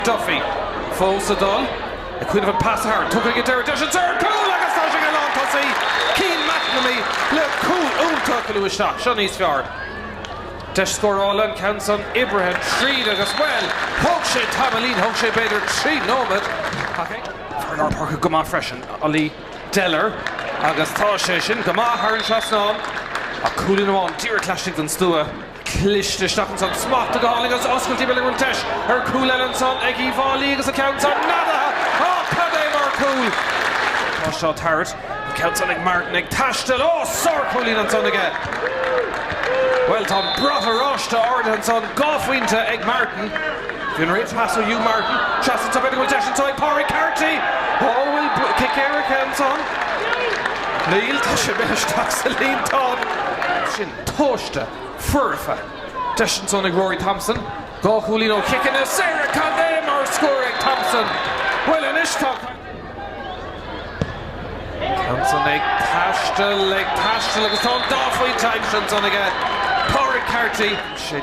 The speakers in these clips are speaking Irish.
Duffy fós sa dol ag cuimhneamh an pas a tharraingt. Tugtha aige deireadh deis ansan ar chúl agus tá sé ag an lántosaí Cian McNamee le cúl iontach a lua isteach. Seo níos fearr. Deis scórála an ceann san oibrithe tríd agus bhuel, thóg sé tamaillín, thóg sé b'fhéidir trí nóiméad ach ag. Fear lár páirce go maith freisin, Ollie Deller agus tá sé sin go maith thar an trasnán ach cúilín amháin díreach laistigh den stua. cliste isteach ansan. Smacht a d'fháil agus oscailtí b'fhéidir go bhfuil deis ar chúl eile ansan ag Uíbh Fhailí agus an ceann san neadaithe. Ó, cad é mar chúl! Tá seo tabhairt. An ceann san ag Martin ag taisteal. Ó, sárchúilín ansan aige. Bhuel, tá an brat oráiste ardaithe ansan, dhá phointe ag Martin. Bhí an rince pas ó Hugh Martin. Seans ansan b'fhéidir go bhfuil deis ansan ag Pádraig Carty. Ó, bhfuil cic éirice ansan? Níl, tá sé buailte isteach sa líontán. Sin. Tomhaiste, foirfe, deis ansan ag Rory Thompson, dhá chúilín ó chiceanna saora, cad é mar scór ag Thompson! Bhuel anois tá caint ar Rory Thompson ag taisteal, ag taisteal agus tá an dá phointe aimsithe ansan aige Pádraic Carty.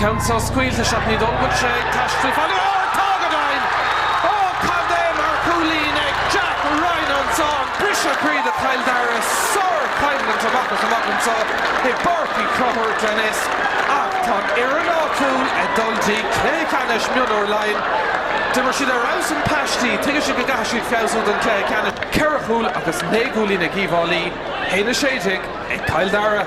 Ceann seo scaoilte isteach, ní dóigh go bhfuil sé ag taisteal fada, ó tá go deimhin! Ó cad é mar chúilín ag Jack Ryan ansan, briseadh croí do Chill Dara, sár-choimhlint amach is amach anseo i bPáirc Uí Chonchúir, Glenisk, ach tá an fhoireann áitiúil ag dul dtí cluiche ceannais mionúr Laighean. D'imir siad ar fheabhas i bpaistí, tuigeann siad go gcaithfidh siad feabhsú don chluiche ceannais. Ceithre chúl agus naoi gcúilín ag Uíbh Fhailí, 1-16 ag Cill Dara.